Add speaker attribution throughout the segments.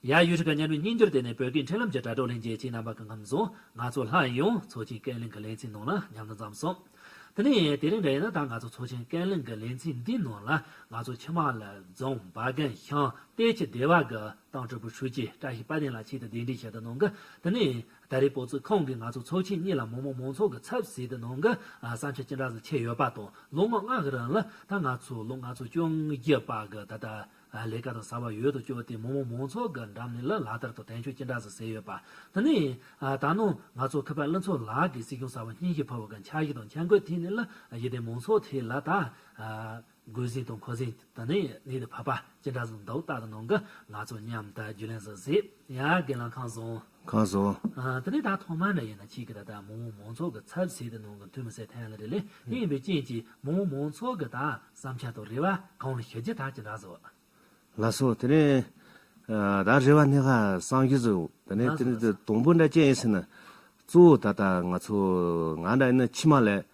Speaker 1: ཡཱ་ཡུ་ཧྲི་ཀ་གཉའ་གནོན་སྙིང་རྒྱུར་བརྟེན་ནས་བོད་སྐད་འཕྲིན་ལམ་གྱི་དྲ་གྲོགས་ལྷན་རྒྱས་ཀྱི་རྣམ་པ་གང་འཚམ་བཟུང་ང་ཚོ་ལྷ་ཡི་ཡོངས་ཚོགས་ཀྱི་སྐད་གླེང་གི་ལེ་ཚན་ནང་ལ་མཉམ་དུ་འཛོམས་སོང། དེ་ནས་དེ་རིང་འདྲ་ཡིན་ན་ད་ང་ཚོ་ཚོགས་ཆེན་སྐད་གླེང་གི་ལེ་ཚན་འདིའི་ནང་ལ་ང་ཚོ་ཆིན་མཱ་ལ་རྫོང་བ་རྒན་ཤང་གཏེར་ཁྱི་སྡེ་བ་གི་ཏང་ཀྲི་པུའི་ཧྲུའུ་ཅི་བཀྲ་ཤིས་དཔལ་ལྡན་ལགས་ཆེད་དུ་གདན་འདྲེན་ཞལ་དུ་གནང་གི་དེ་ནས་ད་རེས་སྤོ་ཚུགས་ཁང་གིས་ང་ཚོ་ཚོགས་ཆེན་གཉིས་ལ་མི་དམངས་མང་ཚོགས་ཀྱི་ཚབ་བྱས་ཏེ་གནང་གི་བསམ་འཆར་ཅི་འདྲ་ཟིག་ཆད་ཡོད་པ་དང་ལོ་ངོ་ལྔ་གི་རིང་ལ་ད་ང་ཚོ་ལོ་ལྔ་ཚོ་བཅོ་བརྒྱད་པ་གི་ད་ལྟ་ལས་ཀ་དང་བཟའ་བ་ཡོད་དོ་ཅོག་དེ་མོ་མོ་མོང་ཚོགས་ཀྱི་འགྲམ་ནས་ལ་ལ་དར་དུ་དྲན་ཤོག་ཅི་འདྲ་ཟེར་ཟེར་ཡོད་པ་དེ་ནི། ད་ནངས་ང་ཚོ་ཁ་པར་བླ་མཚོ་ལགས་ཀྱིས་སྲིད་སྐྱོང་གསར་བ་སྙིང་ཞིག་ཕོར་བ་ག་འཁྱག་ཞིག་དང་འཁྱག་མགོའི་མཐིལ་ནས་ལ་ཡི་དེ་མོང་ཚོགས་དེ་ལ་ད། རྒོལ་ཟིན་དང་འཁོར་ཟིན་དེ་ནི་ནི་དེ་བབ་པ་ཅི་འདྲ་ཟིག་འདུག་རྟག་ཏུ་ནང་གི་ང་ཚོ་མཉམ་དུ་རྒྱུས་ལེན་ཟིག་ཟེར་
Speaker 2: ཡང་སྒེར་ལངས་ཁང་བཟང། གང་སོང། དེ་ནས་ད་ཐོག་མར་ན་ཡིན་ན་ཁྱེད་ཀྱིས་ད་ལྟ་མོང་མོང་ཚོགས་ཀྱི་ཚབ་བྱས་
Speaker 1: ཏེ་གནང་གི་འདུག་མི་ཚད་ཕན་ལ་རེ་ལས་དེ་ཡིན་པའི་རྐྱེན་གྱིས་མོང་མོང་ཚོགས་ཀྱི་ད་བསམ་འཆར་དང་རེ་བ་གང་ལ་ཞུ་རྒྱུ་ད་ཅི་འདྲ་བཟོ། ལ་སོང་དེ་ནས་ད་རེ་བ་སྣེ་ཁ་སང་རྒྱུ་ཟོ་དེ་ནས་དེ་ནས་དང་པོ་འདྲ་ཅན་ཡིན་ཟེར་ན། གཙོ་བོ་ད་ལྟ་ང་ཚོ་
Speaker 2: ང་འདྲ་ཡིན་ན་ཕྱི་མ་ལས་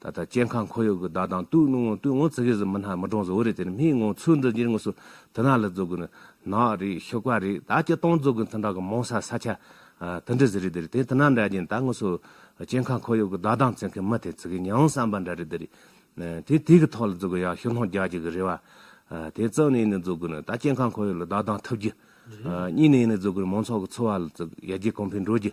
Speaker 2: ད་ལྟ་སྐྱེ་ཁམས་ཁོར་ཡུག་གི་བདག་དང་བཏུས་ནུས་ངང་བཏུས་ངོ་ཚི་གི་ཟི་མི་སྣ་མི་གྲངས་བཟོ་བོ་རེད་དེ་ནི་མིའི་ངང་ཚུལ་འདི་འགྱུར་དངོས་སུ་དུ་ནག་ལ་རྫོགས་གི་ནི་ནག་རེད་ཤོག་པ་རེད་ད་སྐྱི་སྟོང་རྫོགས་གི་འཐུན་དྲག་གི་མོང་ས་ས་ཆ་དུ་འདྲི་ཟི་རེད་དེ་རེད་དེ་དུ་ནག་འདྲ་རྒྱན་ད་དངོས་སུ་སྐྱེ་ཁམས་ཁོར་ཡུག་གི་བདག་དང་བརྩི་མཁན་མི་དེ་ཚི་གི་མྱང་བསམ་པ་འདྲ་རེད་དེ་རེད་དེ་དུས་གི་ཐོག་ལ་རྫོགས་གི་ཡག་ཤོག་སྣང་རྒྱག་གྱི་གི་རེད་བ་དེ་རྩང་ནས་ནི་རྫོགས་གི་ནི་ད་སྐྱེ་ཁམས་ཁོར་ཡུག་ལ་བདག་དང་ཐུབ་རྒྱུ་གཉིས་ནས་ནི་རྫོགས་གི་ནི་མང་ཚོགས་གི་འཚོ་བ་ལ་རྩི་ཡར་རྒྱས་གོང་འཕེལ་འགྲོ་རྒྱུ་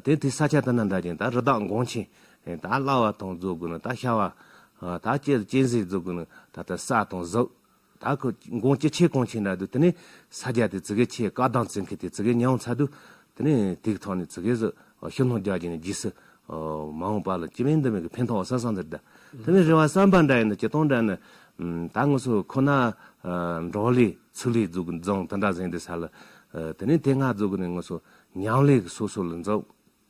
Speaker 2: དེ་དུས་ས་ཆ་དུ་ནག་འདྲ་རྒྱན་ད་རི་དྭགས་འགོང་ཆེན་ད་སླ་བ་དང་རྫོགས་དགོས་ན་ད་ཤ་བ། ད་སྤྱན་སྲས་རྫོགས་དགོས་ན་ད་ལྟ་ས་དང་གཟུགས། ད་མགོན་སྐྱེ་མཆེད་གང་བྱེད་འདྲ་འདུག་དེ་ནས་ས་རྒྱ་དེ་ཙི་གེ་ཆེ་བཀའ་གདངས་ཙི་མཁས་དེ་ཙི་གེ་ཉམས་ཚར་འདུག་དེ་ནས་དིག་ཐང་ནས་ཙི་གེ་སུ་ཤི་སྣང་རྒྱ་བྱས་ནས་རྗེས་སུ། མ་འོངས་པ་ལ་ཅི་མིན་འདི་མིན་གྱི་ཕན་ཐོགས་ས་སང་འདིར་གདའ། དེ་ནས་རེ་བ་བསམ་པ་འདྲ་ཡིན་ན་ཇི་སྟོང་འདྲ་ནི། ད་དངོས་སུ་ཁོ་ན། འབྲོག་ལས་ཚུར་ལས་རྫོགས་དགོས་ན་རྫོང་དེ་འདྲ་གཟེངས་འདི་ས་ལ། དེ་ནས་དེ་སྔ་རྫོགས་དགོས་ན་དངོས་སུ་ཉམས་ལས་སོ་སོ་ལ་འཛོམས།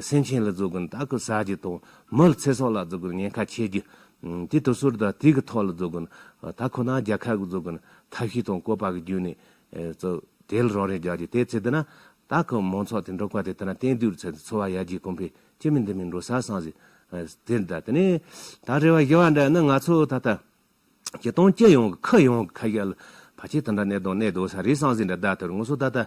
Speaker 2: སེམས་ཅན་ལ་རྫོགས་སྐུ་དག་གི་ས་གཞི་དང་མི་ལ་ཚེ་སྲོག་ལ་རྫོགས་སྐུར་ཉེན་ཁ་ཆེ་རྒྱུ། དེ་དུས་སོར་དང་དུས་ཀྱི་ཐོག་ལ་རྫོགས་སྐུ་དག་ཁོ་ནའང་རྒྱལ་ཁབ་ཀྱི་རྫོགས་སྐུ་ཐབས་ཤེས་དང་བཀོད་པ་གྱི་རྒྱུ་ནས་རྫོགས། དེ་ལ་རང་རེས་རྒྱ་ཆེ་དེའི་ཚེ་འདི་ན་དག་གི་མང་ཚོགས་དེ་འབྲོག་པ་དེ་ལྟ་ན་གཏན་སྡོད་ཀྱི་ཚད་དུ་འཚོ་བ་ཡར་རྒྱས་གོང་འཕེལ་ཅི་མི་འདི་མི་འགྲོ་ས་སངས་རྒྱས། དེ་ལྟ་ནས་ད་རེ་བ་ཞི་བ་འདི་ནི་ང་ཚོ་ད་ལྟ། གྱི་སྟོང་སྐྱེས་ཡོངས་ཀྱི་ཁུ་ཡོངས་ཀྱི་ཁ་ཞལ། བ་ཆེ་དང་འདྲ་གནས་དང་གནས་དོ་ས་རི་སང་ཟིན་འདྲ་ཟླ་དེར་ངོ་སོ་ད་ལྟ།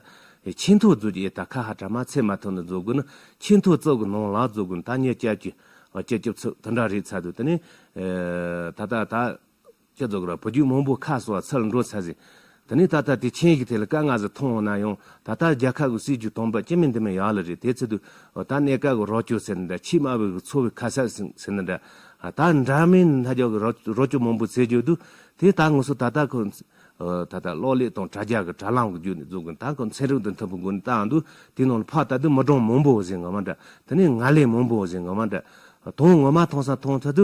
Speaker 2: ཆེས་མཐོ་རྫོགས་ཀྱི་ཨེ་ད་ཁ་ཧ་གྲ་མ་ཚད་མ་ཐུབ་ན་རྫོགས་དགོས་ན་ཆེས་མཐོ་རྩོག་གི་ནང་ལག་རྫོགས་དགོས་ད་ཉེར་བཅད་ཀྱི་བཅད་སྐྱོབ་ཚུལ་དེ་འདྲ་རེད་ཚར་དུས་དེ་ནས། ད་ལྟ་ད། བཅད་རྫོགས་ཀྱི་ར་བུ་རྒྱུད་མང་པོ་ཁ་གསོ་བ་ཚུལ་འགྲོ་ཚར་ཟིན། དེ་ནས་ད་ལྟ་དེ་ཆེན་གྱི་ཐད་ལ་དཀའ་ངལ་ཟ་ཐུང་འོང་ན་ཡང་ད་ལྟ་རྒྱལ་ཁབ་ཀྱི་སྲིད་བྱུས་དོན་པ་སྤྱི་མི་འདི་མི་ཡག་ལ་རེད་དེ་ཚོད་དུ་ད་གནས་སྐབས་ཀྱི་རོགས་སྐྱོར་ཟེར་ན་འདྲ་ཕྱིས་དམའ་བའི་གི་འཚོ་བའི་ཁ་གསབ་ཟེར་ན་འདྲ་ད་འདྲ་མིན་མཐའ་སྐྱོར་གྱི་རོགས་སྐྱོར་མང་པོ་ཟེར་གྱི་འདུག་དེ་ད་ངོས་སུ་ད་ལྟ་ཁོ་ད་ལྟ་གློག་ཀླད་དང་དྲ་རྒྱ་གི་དྲ་ལམ་གྱི་རྒྱུད་ནས་བཙུགས་གི་ད་ཁོ་ཚན་རིག་དང་མཐུན་པའི་སྒོ་ནས་བཏང་འདུག་དེའི་ནང་ལ་ཕ་ད་དུ་མི་གྲངས་མང་པོ་ཟེར་ངོ་མ་འདྲ་དེ་ནས་ང་ལས་མང་པོ་ཟེར་ངོ་མ་འདྲ་དོན་ངོ་མ་ཐོང་ས་ཐོང་ཚོད་དུ་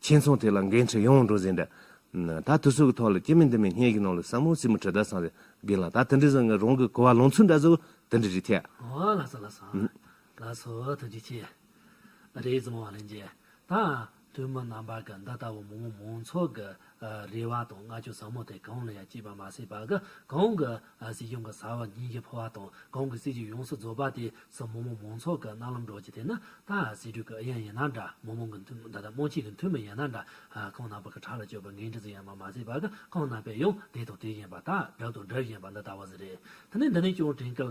Speaker 2: ཁྱིམ་ཚང་དེ་ལ་འགན་འཁྲི་ཡང་འགྲོ་བཞིན་འདུག་ད་དུས་ཚོད་ཀྱི་ཐོག་ལ་སྐྱེས་མི་འདི་མི་སྙན་གྱི་ནང་ལ་སྲ་མོ་བྱི་མོ་གྲི་དར་སངས་རྒྱས་ལ་ད་དེ་འདྲའི་བཟང་ངན་རང་གི་གོ་བ་ལོང་ཚོད་འདྲ་ཟེར་བ་དེ་འདྲ་རེད་ཐལ། ཨོ་ལགས་སོ་ལགས་
Speaker 1: སོ་ལགས་སོ་ཐུགས་རྗེ་ཆེ། རེ་ཟུང་བ་ལན་རྗེས་དང་དུས་མི་རྣམ་པ་གི་འདི་ལྟ་བུ་མང་མང་ཚོགས་ཀྱི་རེ་བ་དང་བསྔགས་བརྗོད་ཟབ་མོ་དེ་གང་ལ་ཡང་བསྐྱིས་པ་མ་ཟད་པ་གང་གི་ཨ་སི་ཡུམ་གྱི་བཟའ་བ་ཉིན་གྱི་འཕོ་བ་དང་གང་གི་སྲིད་ཀྱི་ཡོངས་སུ་རྫོགས་པ་དེ་སྲིད་མོ་མོ་མང་ཚོགས་ཀྱི་རྣ་ལམ་སྒྲོག་ཅིག་དེ་ནི་ད་ཨ་སི་དྲུག་གི་ཨི་ཡན་ཡིན་ན་འདྲ་མོ་མོ་གི་མཐུ་ད་ད་མོ་གཅིག་གི་མཐུ་མི་ཡིན་ན་འདྲ་གང་ན་བ་གི་བྲག་ལ་བཅོས་པའི་འགན་འཁྲི་ཟིག་ཡང་མ་མ་བརྩིས་པ་གི་གང་ན་བས་ཡང་དེ་དང་དེ་བཞིན་པ་དག་གྲུབ་དང་གྲུབ་བཞིན་པ་འདི་ལྟ་བ་ཟིག་རེད་དེ་ནི་འདི་ནས་ཀྱང་དྲན་སྐལ་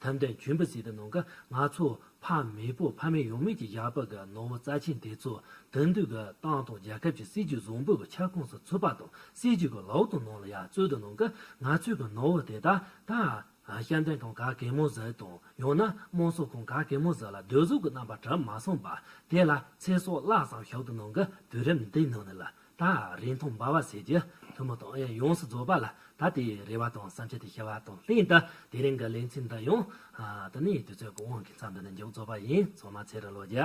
Speaker 1: ཐམས་ཅད་འཇུན་པ་ཟིག་ཏུ་ནང་གི་ནག་ཚོགས་ཕ་མེས་པོ་ཕ་མེས་ཡོང་མེད་ཀྱི་ཞགས་པ་གི་ནོར་བུ་རྩ་ཆེན་དེ་ཚོ་དེང་དུས་ཀྱི་ཏང་དང་རྒྱལ་ཁབ་ཀྱི་སྲིད་ཇུས་བཟང་པོའི་ཁྱབ་ཁོངས་སུ་ཚུད་པ་དང་སྲིད་ཇུས་ཀྱི་ལག་ཏུ་ནང་ལ་ཡར་བཙོས་ཏེ་ནང་གི་ནག་ཚོས་ཀྱི་ནོར་བུ་དེ་དག་དང། ཤ་མདའི་ཁང་ག་གེ་མོ་ཟིག་དང་ཡང་ན་དམངས་སྲོལ་ཁང་ག་གེ་མོ་ཟིག་ལ་སྡོད་གཟུགས་ཀྱི་རྣམ་པ་གྲུབ་མ་སོང་པ་དེ་ལ་ཚེ་སྲོག་བརླགས་སམ་ཞོག་ཏུ་ནང་གི་དུས་རིམ་འདིའི་ནང་ནས་ལ་དང་རིང་ཐུང་འབར་བ་ཟེར་གྱི་ཐུན་མོང་དང་ཡང་ཡོངས་སུ་རྫོགས་པ་ལ་ད་ལྟའི་རེ་བ་དང་བསམ་འཆར་དེ་ཤེས་པ་དང་ལྷན་དུ་དེ་རིང་གི་ལེ་ཚན་འདི་ཡང། དུ་ནི་དུས་ཚོད་གང་བོ་འགའི་མཚམས་འདི་ནས་མཇུག་རྫོགས་པ་ཡིན་ཚང་མ་ཚེ་རུ་བློ་རྒྱ།